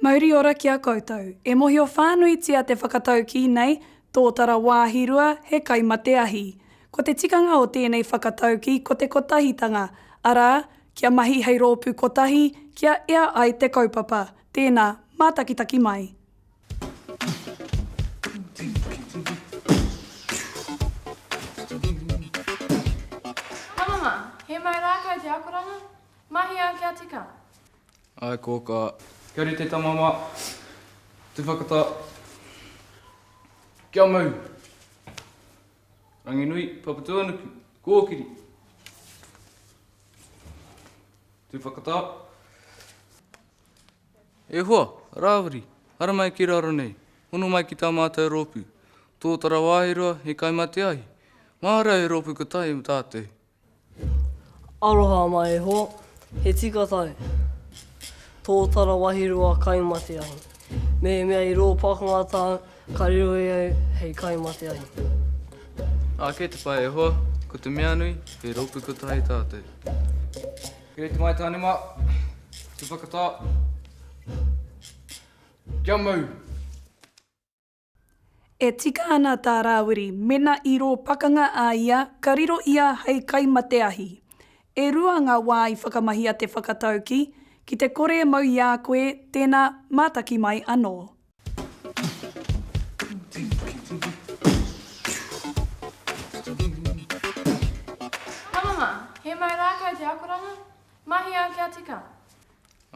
Mauri ora ki a koutou. E mohio whānuitia te whakataukī nei, Tōtara wāhi rua, he kai mate ahi. Ko te tikanga o tēnei whakataukī ko te kotahitanga, arā, kia mahi hei rōpū kotahi, kia ea ai te kaupapa. Tēnā, mātakitaki mai. Tamama, he mau rā kau te akoranga? Mahi au kia tika. Ae kōkā. Kia rite tamama. Tuwhakata. Kia mau. Ranginui, Papatuanuku, kōkiri. Tuwhakata. E hoa! Rāwiri! Haere mai ki raro nei! Hono mai ki tā mātou rōpū! Tōtara wāhi roa, he kai mate ahi! Mahara he rōpū kotahi mō tātou! Aroha mai e hoa! He tika tae! Tōtara wāhi roa kai mate ahi! Mehemea i rō pakanga tāu, ka riro e au hei kai mate ahi! Ake te pae e hoa! Ko te mea nui, he rōpū kotahi tātou! Here te Maitānema, te whakatā, kia mau! E tika ana tā Rāwiri mena i rō pakanga a ia ka riro ia hei kai mate ahi. E rua ngā wā i whakamahi a Te Whakatauki ki te kore e mau i a koe tēnā mātaki mai anō. Tamama, he mau rākau te akoranga? Mahi au kia tika.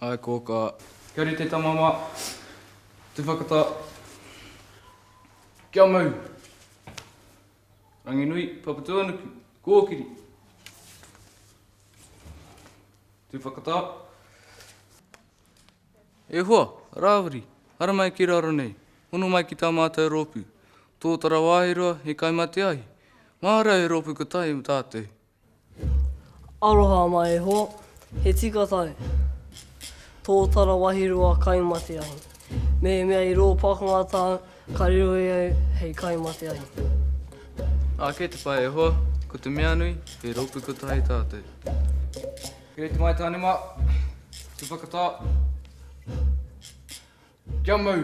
Ae kōkā. Kia rite tamama. Te whakata. Kia mau. Ranginui, Papatuanuku, kōkiri. Te whakata. E hoa! Rāwiri! Haramai ki raro nei! Hono mai ki tā mātou rōpū! Tōtara wāhi roa, he kai mate ahi! Mahara he rōpū ka tahi mō tātou! Aroha mai e hoa! He tika tahi! Tōtara wāhi roa kai mate ahi! Mehemea i rō pakanga tāu, ka riro e au hei kai mate ahi! Ake te pai e hoa! Ko te mea nui, he rōpū ka tahi tātou! Here te Maetanema, te Whakata, kia mau!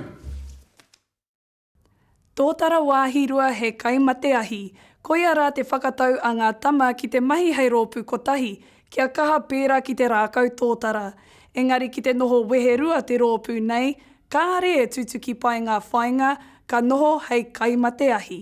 Tōtara Wāhirua he kai mate ahi, koia rā te whakatau a ngā tama ki te mahi hei rōpū kotahi, kia kaha pērā ki te rākau tōtara. Engari ki te noho weherua te rōpū nei, kāre e tutuki pai ngā whāinga ka noho hei kai mate ahi.